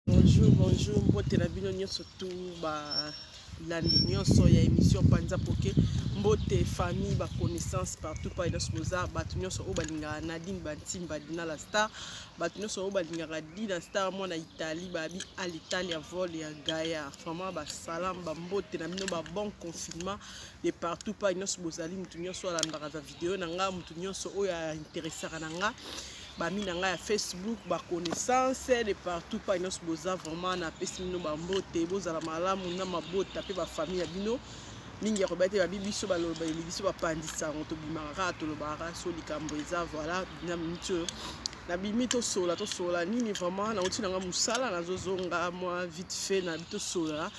Bonjour, bonjour, mbote na bino nyonso tu balandi nyonso ya émission Panza Poke, mbote famille ba connaissance partout pa nyonso boza bato nyonso oyo balingaka Nadine Bantimba Dina la star, bato nyonso oyo balingaka Dina star mwana Italie babi à l'Italie à vol ya Gaia, vraiment ba salam ba mbote na bino ba bon confinement de partout pa nyonso bozali moto nyonso alandaka video na nga mutu nyonso oyo ainteresaka na nga bami na ngai ya facebook baconnaissance de partout pa nyonso boza vraiment napesi bino bambote bozala malamu na mabota mpe bafamille ya bino mingi ya koba te babi biso baloba eli biso bapandisa yango tobimaka kaka tolobaka so likambo eza voilà na miniti oyo nabimi tosola tosola nini vraiment nauti na ngai mosala nazozonga mwa vite fait nabi tosola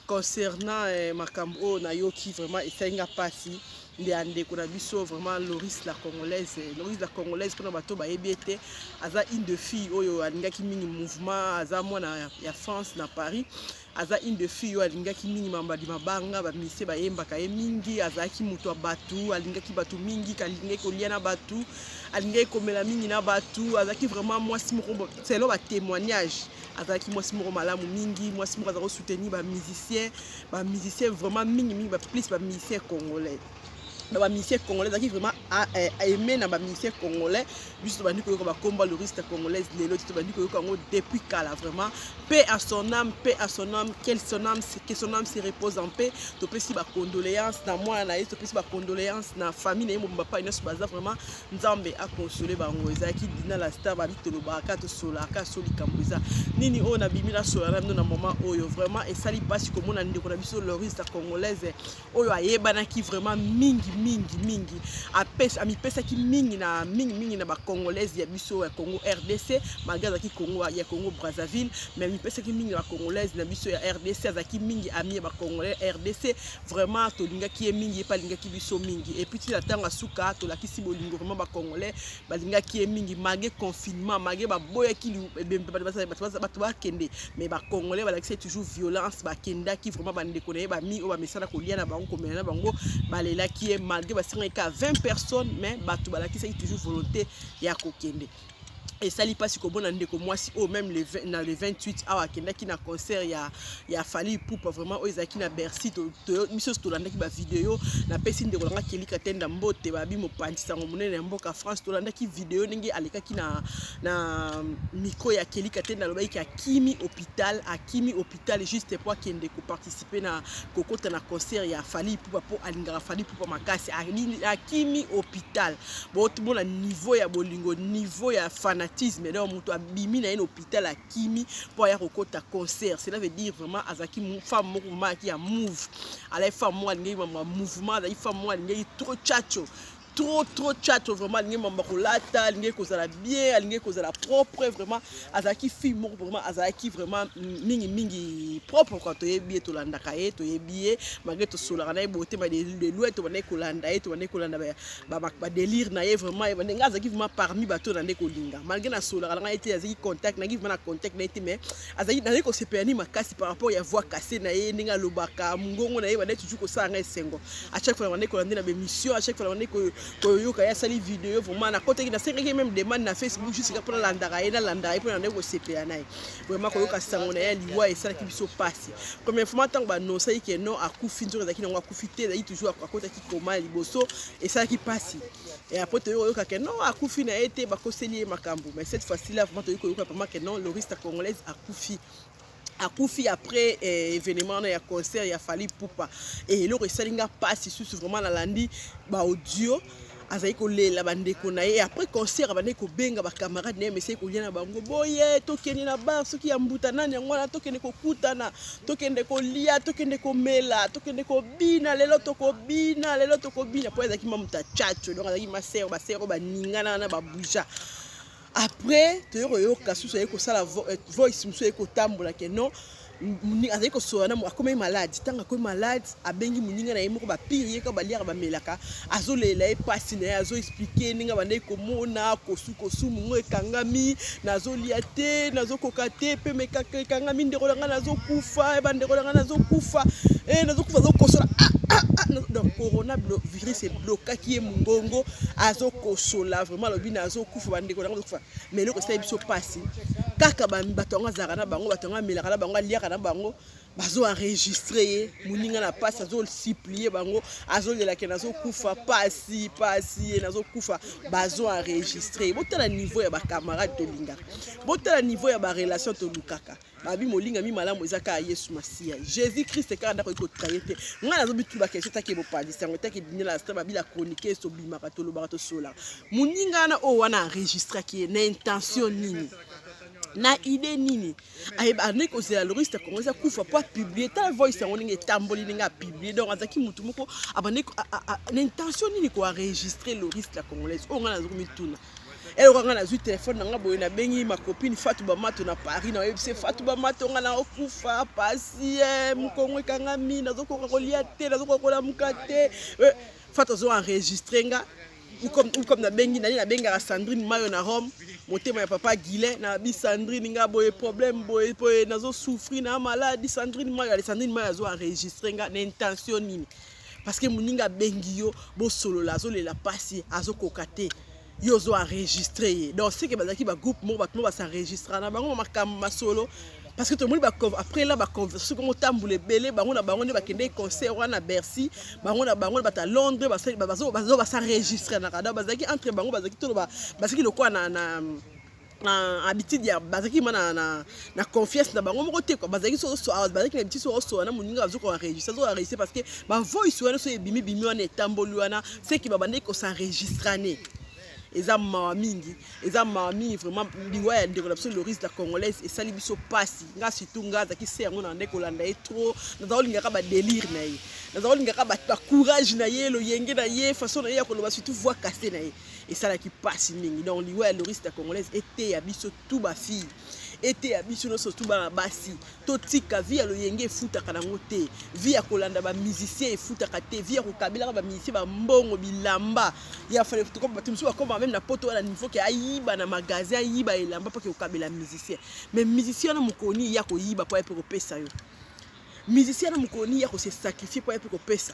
concernant eh, makambo oyo nayoki vraiment esali nga mpasi nde ya ndeko na biso vraiment loris la congolaise loris la congolaise mpona bato bayebi ete aza une de fille oyo alingaki mingi mouvement aza mwana ya france na paris aza une de fille oyo alingaki mingi mambadi mabanga bamisie bayembaka ye mingi azalaki moto ya bato alingaki bato mingi alingaki kolia na bato alingaki komela mingi na bato azalaki vraiment mwasi moko selo batémoignage azalaki mwasi moko malamu mingi mwasi moko aza kosoutenir bamusicien ba musicien vraiment mingi mingi plus ba musicien congolais na ba musicien congolais ezalaki vraiment eh, aime na ba musicien congolais biso tobandi koyoka bakomba loriste congolaise lelo ti tobandi koyoka yango depuis kala vraiment pe à son âme pe à son âme quel son âme que son âme se repose en paix topesi bacondoléance na mwana na ye topesi bacondoléance na famille na ye mobimba pai nyonso baza vraiment nzambe akonsole bango ezalaki dina la star babi tolobaka tosolaka so likambo eza nini oyo nabimi nasola na bino na moment oyo vraiment esali mpasi komona ndeko na biso loris la congolaise oyo ayebanaki vraiment mingi mingi mingi amipesaki mingi na mingi mingi na bacongolaise ya biso ya congo rdc malgre azalaki congo ya congo brazzaville mais amipesaki mingi na bacongolaise na biso ya rdc azalaki mingi ami ya bacongolais rdc vraiment tolingaki ye mingi ye mpe alingaki biso mingi epuis ti na ntango ya suka tolakisi bolingo vraiment bacongolais balingaki ye mingi malgre confinement malgre baboyaki bato bakende mais bacongolais balakisi ye toujours violence bakendaki vraiment bandeko na ye bami oyo bamesana kolia na bango komela na bango balelaki ye malgre basengaki ka 20 personnes mais bato balakisaki toujours volonté ya kokende esali mpasi komona ndeko mwasi oyo meme le, na le 28 awa akendaki na concert ya, ya fali pupa vraiment oyo ezalaki na bercy to, to, biso nyonso tolandaki bavideo napesi ndeko nanga kelika tenda mbote babi mopanzi sango monene ya mboka france tolandaki video ndenge alekaki na, na micro ya kelika tenda alobaki ke akimi hôpital akimi hôpital juste mpo akende koparticipe na kokota na concert ya fali pupa mpo alingaka fali pupa makasi akimi hôpital bomona niveau ya bolingo niveau ya fanatisme donc moto abimi na ye na hôpital akimi mpo aya kokota concert cela veut dire vraiment azalaki femme moko vraiment ayaki ya move alaki femme moko alingaki mambo ya mouvement azalaki femme moko alingaki trop chacho trop trop chacho vraiment alingaki mambo ya kolata alingaki kozala bien alingaki kozala propre vraiment azalaki fille moko vraiment azalaki vraiment mingi mingi propre kua toyebi ye tolandaka ye toyebi ye malgre tosolaka na ye botema de loi tobandaki kolanda ye tobandaki kolanda ba ba, ba delire na ye vraiment ye bande nga azaki vraiment parmi bato na nde kolinga malgré na solo kala ngai te azaki contact na vraiment na contact na ye te mais azaki na ko se perni makasi par rapport ya voix cassée na ye ndenge alobaka mungongo na ye bande toujours ko sanga esengo à chaque fois bande ko lande na ba émission à chaque fois bande ko ko yoka ya sali vidéo vraiment na kotaki na sengaki même demande na Facebook juste pour landaka ye na landaka ye pour na nde ko se perni na ye vraiment ko yoka sango na ye liwa esalaki biso pasi première fois tango ba annonce que non akufi nzoka ezalaki nango akufi te ezalaki toujours akotaki koma ya liboso esalaki mpasi après toyei koyoka ke non akufi na ye te bakoseli ye makambo mais cette fois ci là vraiment toyei koyoka vraiment ke non loriste congolaise akufi akufi après eh, événement wana ya concert ya fali pupa e eloko esali nga mpasi susu vraiment nalandi baaudio azali kolela bandeko na ye après concert abandaki kobenga bacamarade na ye mesai kolia na bango boye tokende na bar soki ya mbuta nani yango wana tokende kokutana tokende kolia tokende komela tokende ko bina lelo tokobina lelo tokobina mpo ezalaki mamuta chacho donc azalaki masero basero baningana wana babuja après toye koyoka susu aye kosala eh, voice mosusu aye kotambola ke non azali kosola na akomaki malade ntango akomi malade abengi moninga na ye moko bapire ye kaka baliaka bamelaka azolela ye mpasi na ye azoexplike ndenge abandaki komona kosu kosumu ngo ekangami nazolia te nazokoka te mpe mekaka ekangami ndeko na ngai nazokufa eh, bandeko na ngai nazokufa eh, nazokufa azokosola ah, ah, ah, donc corona virus eblokaki ye mongongo azokosola vraiment alobi nazokufa bandeko na ngai azokufa ma eloko esali biso mpasi kaka bato yango azalaka na bango bato yango amelaka na bango aliaka na bango bazo enregistre ye moninga na mpasi azosiplie bango azolelake nazokufa pasi pasi ye nazokufa bazo enregistre ye botala niveau ya bacamarade tolingaka botala niveau ya barelation tolukaka babi molingami malamu eza kaka yesu masiya jésus christ kaka ndako oki kotraye te ngai nazobitula kesio take bopalisi yango take binela sta babila kronike esobimaka tolobaka tosolaka moninga wana oyo wana enregistraki ye na intention nini na idée nini abandaki kozela loris ya congrès akufa mpo apiblie ta voice yango ndenge etamboli ndenge apiblie donc azalaki motu moko abandaki na intention nini koenregistre loris la congolaise oyo ngai nazoki mituna eloko ngai nazwi telefone na ngai boye nabengi makopine fatu bamato na paris na oyebisi fatu bamato ngai naokufa pasi eh, mokongo ekangami nazokoka kolia te nazokoka kolamuka te eh, fatu azoenregistre ngai ukom nabengi nani nabengaka sandrine mayo na rome motema ya papa guilin na bi sandrine nga boye problème boye boye nazosouffrir na maladi sandrine mayo ale sandrine mayo azo enregistre nga na intention nini parce que moninga abengi yo bosolola azolela mpasi azokoka te yo ozo enregistre ye donc seke bazalaki bagroupe moko bato moko basenregistrana bango makambo masolo parce que tomoni après là baconversation kongo tambola ebele bango na bango nde bakendeki concert wana bercy bango na bango bata londres basaregistre na kada bazalaki entre bango bazalaki toloba bazalaki lokola na, na na habitude ya bazalaki ma na, na, na confiance na bango moko te kua bazalaki sosoa bazalaki na habitude sosoa na moninga bazoki koenregistre azoki enregistre parce que bavoice wana so ebimibimi wana etamboli wana seki babandaki kosenregistrane eza mawa mingi eza mawa mingi vraiment liwa ya ndeko na biso loris la congolaise esali biso mpasi nga surtout nga azalaki se yango na nde kolanda ye trop naza kolingaka badelire na ye naza kolingaka bacourage na ye loyenge na ye façon na ye ya koloba surtout voix casse na ye esalaki mpasi mingi donc liwa ya loris la congolaise eteya biso tout ba fille eteya biso nyonso tu bana basi totika vi ya loyenge efutaka nango te vi ya kolanda bamusicien efutaka te vi ya kokabelaka bamusicien bambongo bilamba ya fale bato mosusu bakoma meme na poto wana nivo ke ayiba na magasin ayiba elamba mpo ke kokabela musicien mais musicien wana mokolo nini ya koyiba mpo ya mpe kopesa yo musicien wana mokolo nini ya kose sacrifie mpo ya mpe kopesa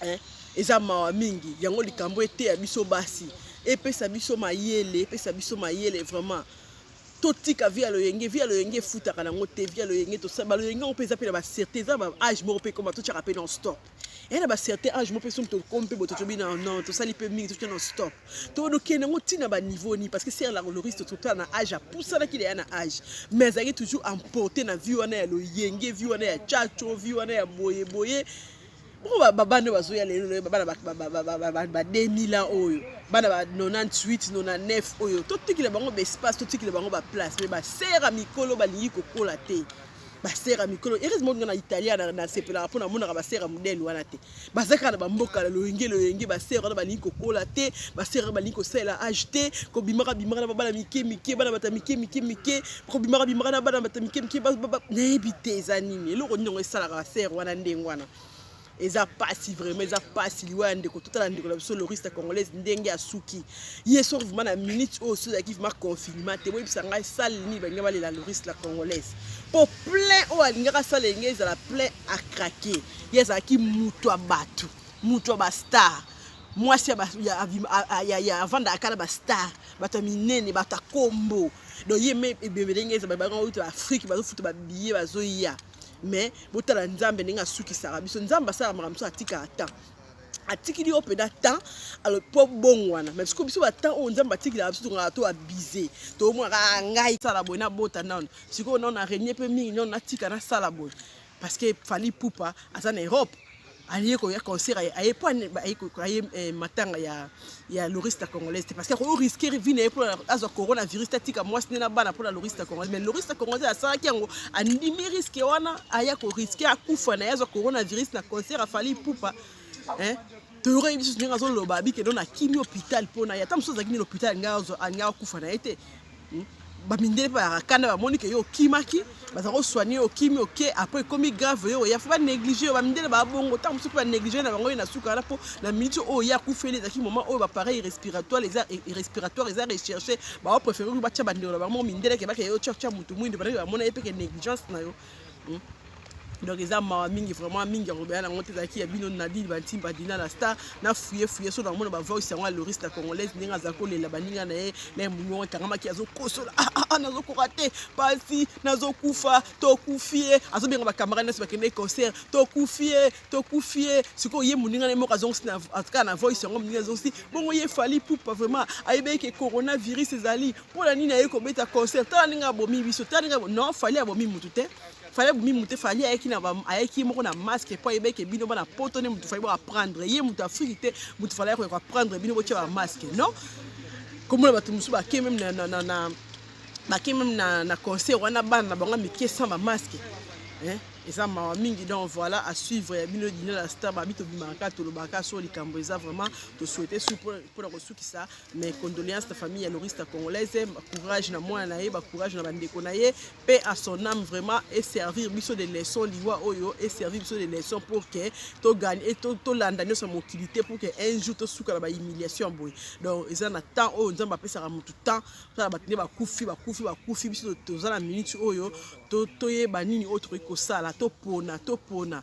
eh, eza mawa mingi yango likambo eteya biso basi epesa biso mayele epesa biso mayele vraiment totika vi ya loyenge vi ya loyenge efutaka nango te vi ya loyenge tosala baloyenge yango mpe eza mpe na bacertain eza na baage moko mpe ekoma totyaka mpe non stop eya na bacertain age moko mpe soki tokomi mpe bototobi na non tosali mpe mingi totya non stop tolokee nango ntina baniveau nini parce que ser la loriste totala na age apusanaki leya na age mais azalaki toujours emporte na vie wana ya loyenge vie wana ya chacho vie wana ya boyeboye mpo bababa nde bazoya lelo loye bana ba 2000 ans oyo bana ba 98 99 oyo totikela bango baespace totikela bango baplace mais basera mikolo balingi kokola te basera mikolo heureusement nga na italia nasepelaka mpo namonaka basera modele wana te baza kaka na bamboka na loyenge loyenge basere wana balingi kokola te basere wana balingi kosalela age te kobimaka bimaka na babana mike mike bana bata mike mike mike kobimaka bimaka na bana bata mike mike nayebi te eza nini eloko nini yango esalaka basere wana ndenge wana eza pasi vraiment eza pasi liwa ya ndeko totala ndeko na biso loriste congolaise ndenge asuki ye soki vrima na minute oyo soki ezalaki vrima confinement te boyebisa ngai sale nini balingi balela loriste la congolaise po plein oyo alingaka sale enge ezala plein acrake ye azalaki moto ya bato moto ya bastar mwasi avandaka kala bastar bato ya minene bato ya kombo donc ye me ebembe ndenge eza babanga oyo to afrike bazofuta babiye bazoya mais botala nzambe ndenge asukisaka biso nzambe asalaka makambo so atikaka temps atikili yo mpenza temps mpo bongwana mai siko biso batemp oyo nzambe atikilaka biso tongaka to abuse tomonaka ngai sala boye nabota nano sikoyo nano na renie mpe mingi nano natika nasala boye parce que Fally Ipupa aza na Europe aye koya concert aye mpo aye eh, matanga ya, ya lorista congolaise te parce que akoki riske vi na ye mpo azwa coronavirus te atika mwasi nde na bana mpo na lorista congolaise mais lorista congolaise asalaki yango andimi riske wana aya koriske akufa na ye azwa coronavirus na concert afali pupa eh? toyoka ye lisusu ndenge azoloba abikendo na kimi hôpital mpo na ye ata mosusu azalaki nini hôpital alinga akufa na ye te hmm? bamindele mpe bakakanda bamoni ke yo okimaki baza kosoigne yo okimi oke apres ekomi grave yo oya fo banéglige yo bamindele babongo ntango mosusu mpe banéglige na bango ye na suka wana mpo na miniti oyo ye akufeli ezalaki moment oyo bapareil respiratoire eza respiratoire eza recherche baopréféré batya bandeko na bango mindeleke bakeye yo tya motu mwindu banake bamona ye mpeke négligence na yo hmm? donc eza mawa mingi vraiment mingi ya kobela nango te ezalaki ya bino nadine bantimba dina na star na fuye fuye so namona bavoice yango ya loris na congolaise ndenge azali kolela baninga na ye na emuniongo ekangamaki azokosola ah, ah, ah, nazokoka te pasi nazokufa tokufi ye azobenga bacamarade nyonso bakende concert tokufi ye tokufi ye sikoyo ye moninga na ye moko azongisi kaka na voice yango moninga azongisi bongo ye fali pupa vraiment ayebeki ke coronavirus ezali mpo na nini ayei kobeta concert tala ndenge abomi biso tala ndenge non fali abomi motu te fali abomi motu te fali ayaki na ayaki ye moko na masque mpo ayebaki bino bana poto nde motu fali bo aprendre ye motu afriki te motu fali ayaki koyaka aprendre bino botya ba masque non komona bato mosusu bake meme na, na, na, na bake meme na, na concert wana bana na bango mike sans ba masque eh? eza mawa mingi donc voilà à suivre ya bino dina la star babi tobimaka tolobaka so likambo eza vraiment tosouhaite su mpona kosukisa mes condoléances na famille ya lorista congolaise courage na mwana na ye bacourage na bandeko na ye mpe à son âme vraiment eservir biso de leçon liwa oyo eservir biso de leçon pour que togani e tolanda nyonso ya mokili te pour que un jour tosuka na bahumiliation boye donc eza na temps oyo nzambe apesaka motu temps tala bato nde bakufi bakufi bakufi biso toza na minute oyo toyeba nini oyo tokoki kosala topona topona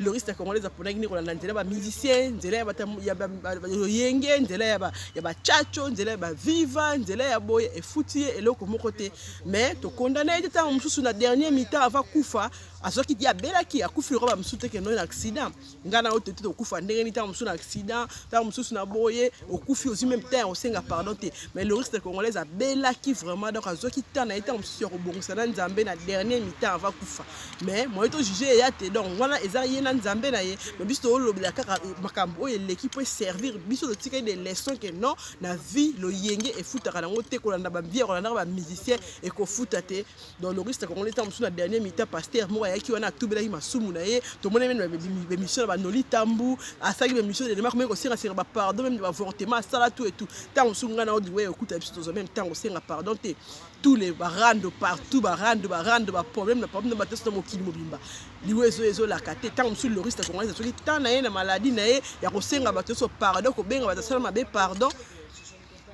loriste congolaise aponaki nde kolanda nzela ba musicien nzela ya bayoyenge nzela ya bachacho nzela ya baviva nzela ya boye efuti ye eloko moko te mais tokondana ye te ntango mosusu na dernier mitan ava kufa azwaki ti abelaki akufi lokola bamosusu te kendo na accident ngai na oyo tote tokufa ndenge nini ntango mosusu na accident ntango mosusu na boye okufi ozwi meme temps ya kosenga pardon te mais le risque congolaise abelaki vraiment donc azwaki temps na ye ntango mosusu ya kobongisa na nzambe na dernier mitemps ava kufa mais moye tojuge eya te donc wana eza ye na nzambe na ye mais biso tolobela kaka euh, makambo oyo eleki mpo eservir biso totikali de leçon ke non na vie loyenge efutaka nango te kolanda bavie ya kolandaka bamusicien ekofuta te donc loris na congolais ntango mosusu na dernier mita paster moko ayaki wana atubelaki masumu na ye tomoni meme bemission na banoli tambu asalaki bemission elema komei kosengasenga bapardon meme bavortement asala tu etu ntango mosusu ngai na odiwe okuta biso tozwa meme ntango osenga pardon te tous les barando partout barando barando baproblème na problème na bateso na mokili mobimba liwe ezo ezolaka te ntango mosusu loris na congolais asoki ntan na ye na maladi na ye ya kosenga bato nyonso pardon kobenga bato asala mabe pardon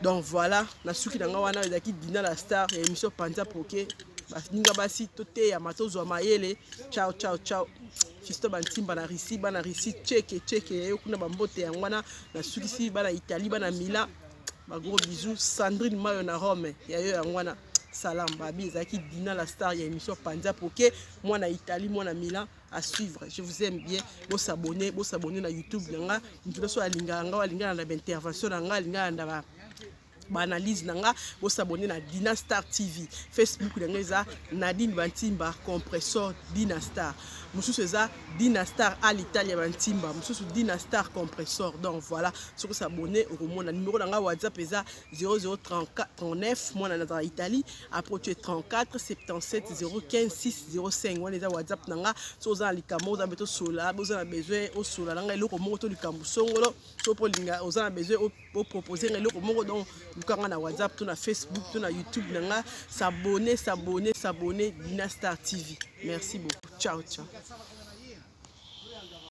donc voilà na suki na ngai wana ezalaki dina la star ya émission panza poke baninga basi toteyama tozwa mayele ciao ciao ciao fisto bantimba na russie bana russie cheke cheke yayo kuna bambote yango wana nasukisi bana italie bana mila bagros bisous sandrine mayo na rome yayo yango wana salam babi ezalaki dina la star ya émission panza poke mwana italie mwana milan à suivre je vous aime bien bo s'abonner bo s'abonner na youtube na nga mutu nyonso alingaka nga alingaka na baintervention na nga alingaka na ba baanalyse na nga bo s'abonner na dina star tv facebook na nga eza nadine bantimba compressor dina star mosusu eza dina star à l'italia bantimba mosusu dina star compressor donc voilà soki s'abonner okomona numero na nga whatsapp eza 0039 mwana nazala italie approche 34 77 015 605 wana eza whatsapp na nga so oza na likambo oza mpe tosola boza na besoin osola na nga eloko moko to likambo songolo so mpo olinga oza na besoin opropose nga eloko moko donc luka nga na whatsapp to na facebook to na youtube na nga sabone sabone sabone dina star tv merci beaucoup ciao ciao